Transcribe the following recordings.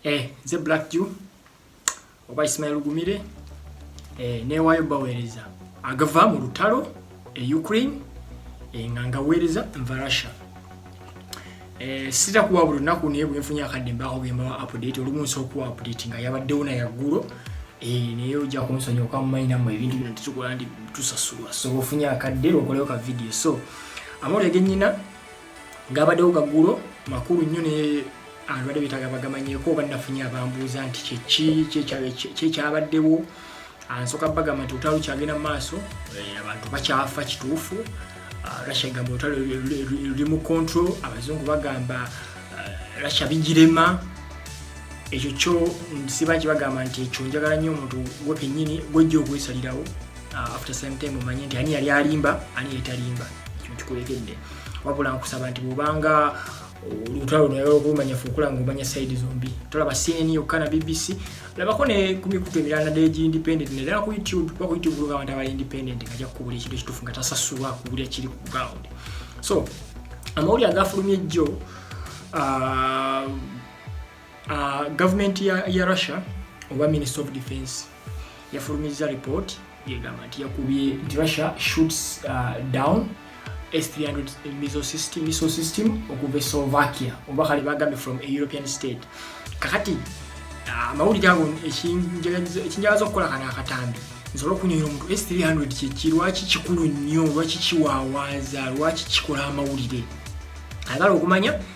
eh, nze black jew oba ismail gumire eh, newayo baweereza agava mu lutalo e ukraine eh, nga ngaweereza nva russia eh, sita kuwa buli lunaku naye bwenfunye akadde mbaako bwembawa update olumu nsobola okuwa update nga yabaddewo na yaggulo eh, naye ojja kunsonyiwa kuba mumayinamu ebintu bino tetukola nti tusasulwa so ofunye akadde lwokolewo ka vidiyo so amawulire genyina gabadewo gagulo makulu nnyo ne abadde betaga bagamanyeko oba nafunye abambuuza nti kyeki kyekyabaddewo ansoka bagamba nti olutalo kyagenda mu maaso eh, abantu bakyafa kituufu ah, russia egamba olutalo luli mu control abazungu bagamba ah, russia bigirema ekyo kyo siba kibagamba nti ekyo njagala nnyo omuntu gwe kenyini gwejja okwesalirawo ah, after same time omanye nti ani yali alimba ani yetalimba ekyo nkikulegedde wabula nkusaba nti bwobanga olutalo naye okumanya fukula ngo manya side zombi tolaba CNN yokka na BBC labako ne ku mikutu emirala naddala egi independent naddala ku YouTube kuba ku YouTube luga abantu abali independent nga ajja kukubulira ekintu ekituufu nga tasasulwa kubulira kiri ku ground so amawulire agafulumye jjo uh, uh, gavumenti ya, ya russia oba minister of defense yafulumizza report yegamba nti yakubye nti russia shoots uh, down S300 missile system, missile system okuva e Slovakia oba kale bagambye from a European state kakati uh, amawulire ago ekinjalaza okukola kana akatambi nsobola okunyonyola omuntu S300 kyeki lwaki kikulu nnyo lwaki kiwawaaza lwaki kikola amawulire agala okumanya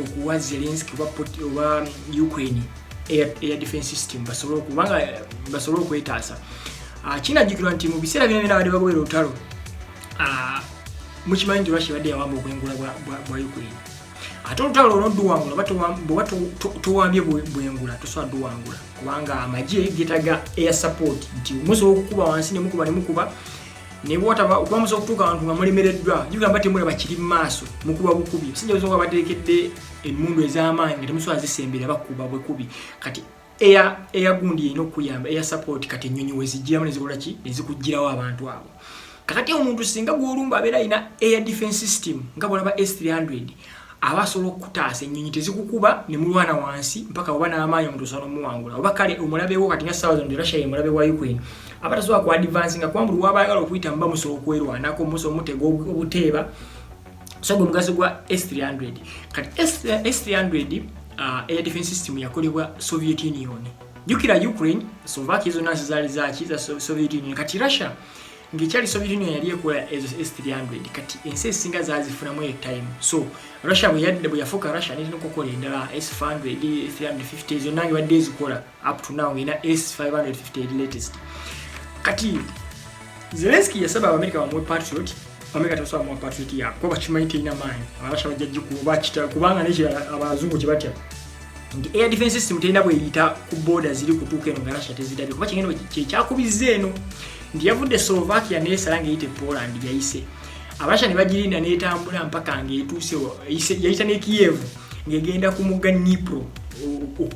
okuwa zelenski oba ukraine air defense system basobole okubanga basobole okwetaasa ah, kinajjukirwa nti mu biseera byona byona badde bagobera olutalo ah, mukimanyi nti russia badde yawamba obwengula bwa ukraine ate olutalo olwo duwangula bweba towambye bwengula tosobola duwangula kubanga amagye getaga air support nti musobola okukuba wansi nemukuba nemukuba naye bwotaba okubamusa okutuuka abantu nga mulemereddwa jugamba temulaba kiri mu maaso mukuba bukubi osinja ozo nga bateekedde emmundu ez'amaanyi nga temusobola zisembera bakuba bukubi kati eyagundi erina okukuyamba eya support kati ennyonyi wezijjiramu nezikola ki nezikugirawo abantu abo kakati omuntu singa gwolumba abeera alina air defense system nga bwolaba s300 aba asobola okukutaasa ennyonyi tezikukuba ne mulwana wansi mpaka oba n'amaanyi omuntu osobola omuwangula oba kale omulabewo kati nga ssaawa zino nti russia ye mulabe wa ukraine aba tasobola ku advance nga kuba buli waba ayagala okuyita muba musobola okwerwanako musobola omutega obuteeba so gwe mugaso gwa s 300 kati s 300 uh, air defense system yakolebwa soviet union jukira ukraine sovakia zonna nsi zaali zaki za soviet union kati russia ngekyali soviet union yali ekola ezo s300 kati ensi ezisinga zazifunamu eyo time so russia bweyadde bweyafuuka russia nirina okukola endala s500 350 zonna nge badde ezikola up to now erina s550 latest kati zelenski yasaba abamerika bamuwe patriot abamerika tebasobola bamuwa patriot yakuba bakimanyi terina maanyi abarussia bajja gikuba bakita kubanga nekirala abazungu kyebatya nti air defense system terina bweyita ku boda ziri kutuuka eno nga russia tezirabye kuba kigendo kyekyakubizza eno nti yavudde slovakia nesala nga eyite poland yayise abarussia nebagirinda netambula mpaka ngaetuuse yayita ne kiev ngegenda ku mugga nipro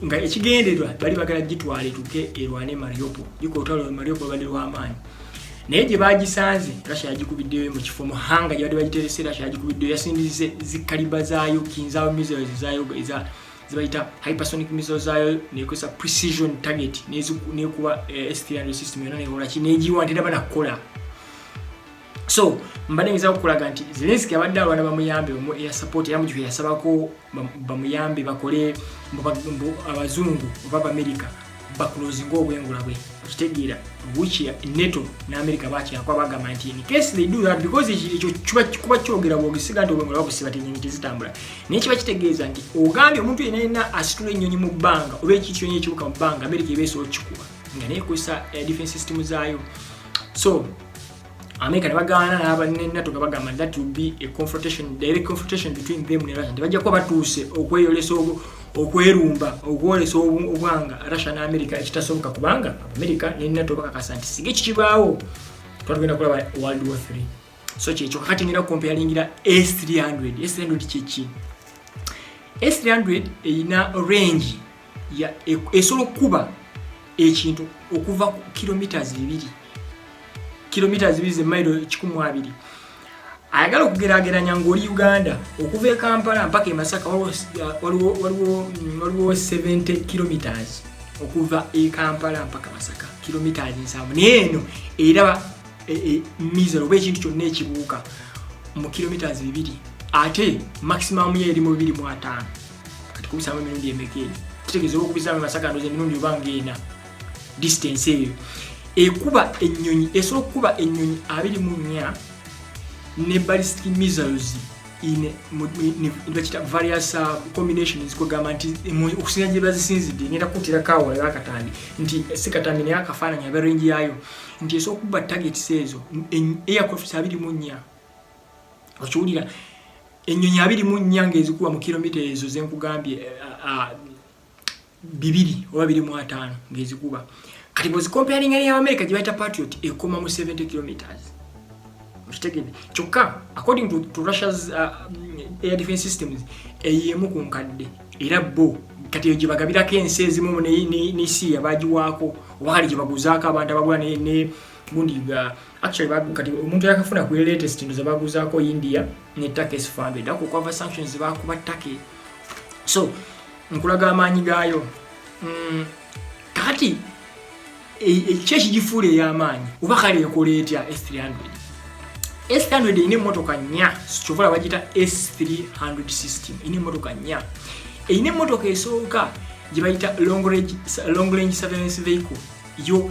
nga ekigenderwa bali bagala gitwala etuke erwane mariopo ikootalo mariopo bandi lwamaanyi naye gye bagisanze russia yagikubiddeyo mu kifo mu hanga gyebadde bagiterese russia yagikubiddeyo yasindize zikaliba zaayo kinzaawo missiles zaayo eza zebayita hypersonic missiles zaayo nekozesa precision target nekuba eh, s300 system yona nekolaki negiwa nti nabana kukola so mbadde ngiza okulaga nti zelenski abadde abaana bamuyambe omu eya support era mu kifo yasabako bamuyambe bakole abazungu oba bamerika bakulozinga obwengula bwe okitegeera which neto ne america bakyakwa bagamba nti in case they do that because ekyo kuba kyogera bwogisiga nti obwengula babusiba tenyonyi tezitambula naye kiba kitegeeza nti ogambye omuntu yena yena asitula ennyonyi mu bbanga oba ekityonyi ekibuka mu bbanga america eba esobola okukikuba nga naye ekozesa eh, defense system zaayo so America ne bagaana n'aba ne NATO nga bagamba that will be a confrontation direct confrontation between them ne Russia tebajja kuba batuuse okweyolesa okwerumba okwolesa obwanga Russia ne America ekitasoboka kubanga America ne NATO bakakasa nti sige kikibaawo twatugenda kulaba World War 3 so kyekyo kakati ngenda kukompayalingira S300 S300 kyeki S300 erina range esobola okukuba ekintu okuva ku kilometres bibiri kilometres bibiri zemairo kikumu abiri ayagala okugerageranya ngaoli uganda okuva e kampala mpaka emasaka waliwo 70 kilometres okuva e kampala mpaka masaka kilometres nsanvu naye eno era e, e, mizero oba ekintu kyonna ekibuuka mu kilometres bibiri ate maximum ye eri mu bibiri mu ataano kati kubisaamu emirundi emeka eyo tutegeeza olwokubisaamu masaka ndoza emirundi oba ngaena distance eyo ekuba ennyonyi esobola okukuba ennyonyi abiri mu nnya ne ballistic missiles bakita various uh, combinations kwegamba nti okusinga gye bazisinzidde ngenda kutira kaawa era akatambi nti si katambi naye akafaananyi abe range yaayo nti esobola okuba targets ezo aircrafts abiri mu nnya okiwulira ennyonyi abiri mu nnya ng'ezikuba mu kilomita ezo ze nkugambye bibiri oba biri mu ataano ng'ezikuba kati bwezikomparinga neyabamerika gye bayita patriot ekoma mu 70 kilometers okitegede kyokka according to, to russia's uh, air defense systems eyemu ku nkadde era bo kati eyo gyebagabirako ensi ezimu ne, ne, ne siya bagiwaako oba kali gyebaguzaako abantu abagula ne, ne gundi ga uh, actually bagu kati omuntu yakafuna ku latest ndo zabaguzaako India ne Turkey sifambe da ku cover sanctions zabakuba Turkey so nkulaga amaanyi gaayo mm, kati ekyo e, ekigifuula ey'amaanyi oba kale ekola etya S300 S300 erina emmotoka nnya kyova la bagiyita S300 system erina emmotoka nnya erina emmotoka esooka gye bayita long range surveillance vehicle yo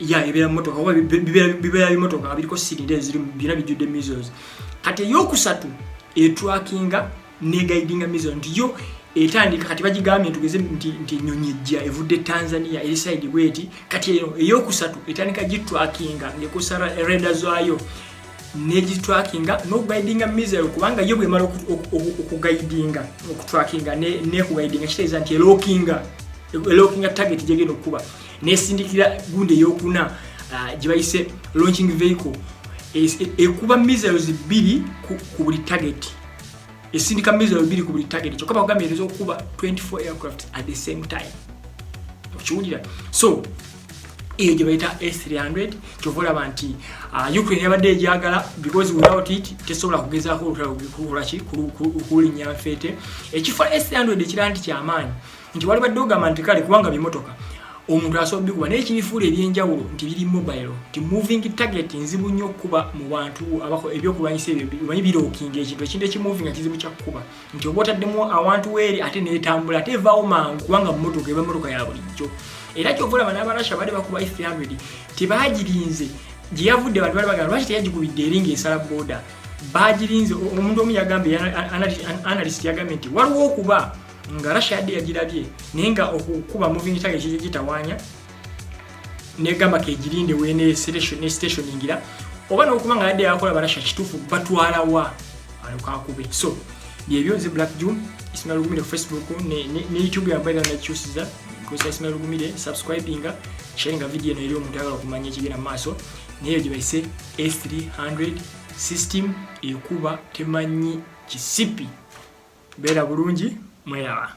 ya ebeera mumotoka oba bibeera bimotoka nga biriko sirinda ezirimu byona bijjudde measles kati eyokusatu etrakinga negaidinga measles nti yo etandika kati bagigambye ntugeze nti enyonyi ejja evudde tanzania eri saidi bweti kati eno eyokusatu etandika gitrakinga ngekosa reda zayo negitrakinga nokugaidinga measle kubanga yo bwemala okugaidinga okutrakinga nekugaidinga kitegeeza nti elokinga elokinga target gyegenda okukuba nesindikira gundi eyokuna uh, gyebayise launching vehicle ekuba missiles bbiri ku buli target esindika missiles bbiri ku buli target kyokka bakugambye ezo okuba 24 aircraft at the same time okiwulira so eyo gye bayita s300 kyova olaba nti ah, ukraine yabadde egyagala because without it tesobola kugezaako olutalo kulinnya nfeete ekifo s300 ekira nti kyamaanyi nti wali badde ogamba nti kale kubanga bimotoka omuntu asobola bikuba naye kibifuula ebyenjawulo nti biri mobile nti moving target nzibu nnyo okukuba mu bantu abako ebyokulwanyisa ebyo omanyi birookinga ekintu ekintu ekimoving kizibu kyakukuba nti oba otaddemu awantu weeri ate neetambula ate evaawo mangu kubanga mumotoka eba motoka ya bulijjo era kyova olaba n'abarasha baali bakuba e three hundred tebaagirinze gye yavudde bantu bali bagamba lwaki teyagikubidde eri ng'esala booda baagirinze omuntu omu yagambye analyst yagambye nti waliwo okuba nga russia yadde yagirabye naye nga okukuba moving target kiri gitawanya negamba kegirinde wene station ne station ingira oba nokuba nga yadde yakola barasha kitufu batwala wa alukakube so byebyo nze black june ismail gumire ku facebook ne, ne, ne youtube yambaira nakyusiza kosa ismail gumire subscribinga sharinga video eno eri omuntu ayagala okumanya ekigenda mu maaso naye gyebayise s300 system ekuba temanyi kisipi beera bulungi mweraba